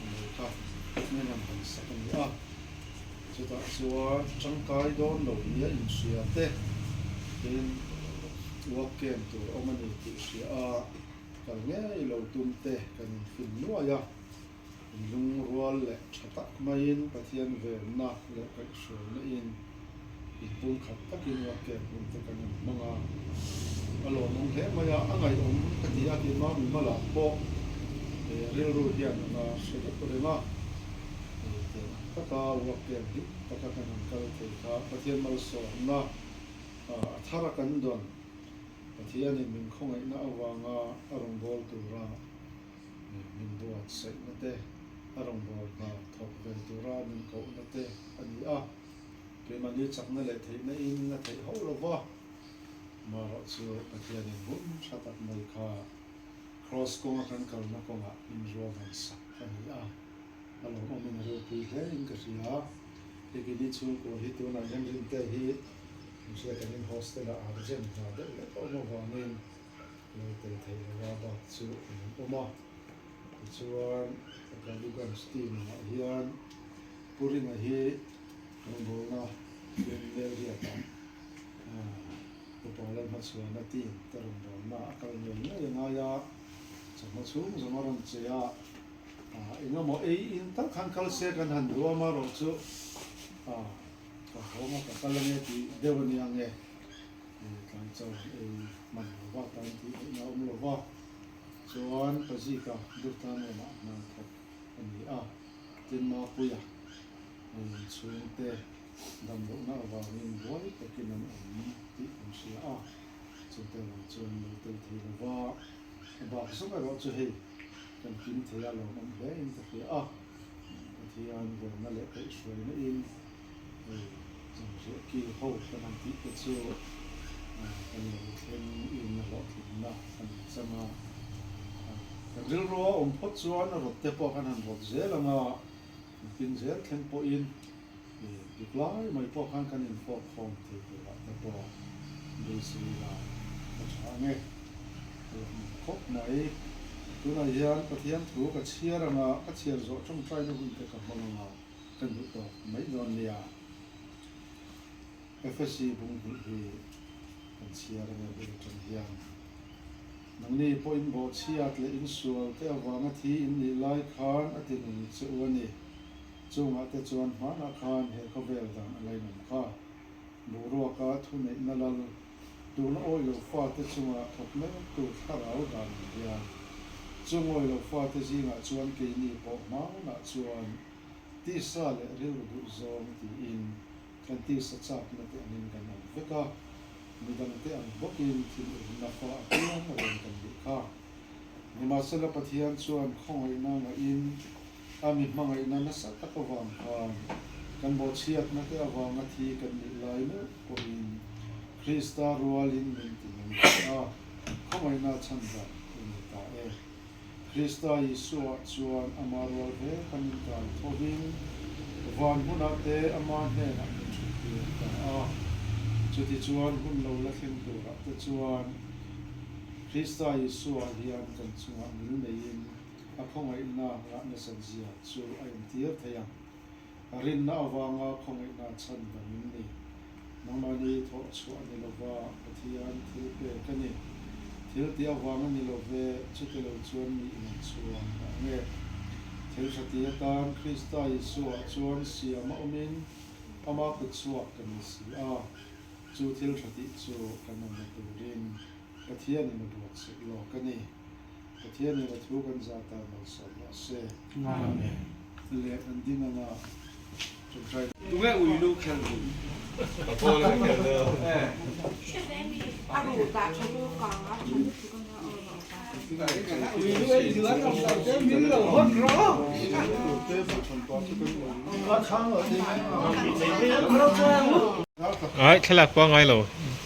Ni kha hmel an han sak a ni a, chutah chuan tangkai dawn lo nia inhria te tin uak kem tur a awm a ni tih hria a kal ngei lo tum te kan infin nuai a, in lungrual leh tha tak maiin Pathian velna leh kaihhruaina in. I pum khat takin Ruatte a pumte kan in hmang a, a lawnawng hle mai a, a ngaihawm ka ti a, timah mimalah pawh he rilru hian a nga hre deuh reng a, hei tel ang taka Ruatte an hik taka kan han kal thei kha Pathian malsawmna a thar a kan dawn, Pathian in min khawngaihna avanga a rawngbâwl tura min buatsaihna te, a rawngbâwl hna thawk ve tura min kohna te a ni a. Keimahni chakna leh theihna in in la theih hauh lo va, maherawh chu Pathianin hum tha tak mai kha Kraws kawnga kan kalna kawngah in ruahdan sak ka hnih a, a lo awmin a rilpui hle in ka hria. Hikini chhungkua hi tunah hian Rintehi hriat angin hostel-ah aa rem hna deuh leh pawh avangin, Naute theih lova bak chu a rawn awm a, tichuan a Galuganj team-ah hian Purina hi rawngbawlna fian leh riatah upa lam hmachhuahna team te rawngbawlna a kal ngei ngei a ngai a, chawlhna chhung zawng a rawn che a, engemaw ei in tak khan kal se kan han huam a erawh chu ka hawng a ka kal ange tih deuh a nia ang e. Hei tlai chuan an ei hman lo va, tan tih theihna a awm lo va, chuan pa Zika Durtlangaina a hna thawk a ni a, tin Mapuia lawmawm chhungte damlohna avangin buai takin an awm tih kan hria a, chute lo chuan lo tel thei lo va, a bak zawng erawh chu hei kan kim thei a, lawmawm hle in ka hria a, Pathian velna leh peihhruaina in Hei chung zir kil ho hlan an tih te chu ka nei thleng inna hlawhtlinna a ni chang a. Kan rilrua awm phawt chuan rawtte pawh khan han rawt zel ang a, kan tin zel thleng pawhin dik lai mai pawh khan kan inhawpkhawm thei turah te pawh Brisri la ka tha ang e. Hei a hmun khawp mai. Tunah hian Pathian thu ka chhiar ang a, ka chhiar zawh tawngtaina hun te ka hmang ang a. ka hnuh tawh mai dawn nia. FSC bunghnih hi kan chhiar anga bel tan hian nangni pawh inbawhchhiat leh insual te avanga thi in nih lai khan a tinun che u a ni. Chungah te chuan hmanah khan he khawvel dan a la inawm kha. Boruaka thuneihna lal. Tun awi lo fate chunga thawk mek tur thlarau dan ni hian chu ngawi lo fate zingah chuan keini pawh hmangawnah chuan tisa leh rilru duh zawng tiin kan tisa chak nate angin kan awm vek a, midangte ang bawkin thil urna fa a piang reng kan nih kha. Nimahsela Pathian chuan khawngaihnaa ngaihin a mi hmangaihna nasa tak avang kha kan bawhchhiakna te avanga thi kan nih lai meuh pawhin Krista rualin min ti mai ta a, khawngaihnaa chhan dah i nei ta e. Krista Isuah chuan Amah rual ve kha min kai thohin van hmuna te Amah hnenah min thuttir ta a. Chutichuan hun lo la thleng turah te chuan, Krista Isua hian kan chungah nil neiin a khawngaihna ngah nasat zia chu a entir thei ang. A rinna avanga khawngaihna chhan dang in ni. Nangmahni i thawhchhuah ni lova, Pathian thil pek a ni. Thil ti avanga ni lo ve, chute lo chuan mi in an chuang ta ang e. Thil hre ti atan Krista Isuah chuan siam a awmin amah kutchhuak kan ni si a, chu thil hre tih chu kan awm la turin. Pathianin a buat sek lawk a ni. Pathianin a thu kan za ta malsawm loh se. Amen. Leh an ding anga tawngtai. Tunge ui lu khel dim. Ka ball a ka khel deuh. Ai thlalak pawh a ngai lo.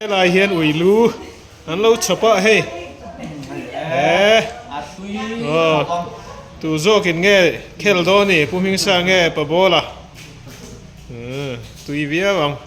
Helai hian uilu an lo chhap a hei eh aw tu zawk in nge khel dawn a ni pu hming sang nge pa bawla umm tui viau ang.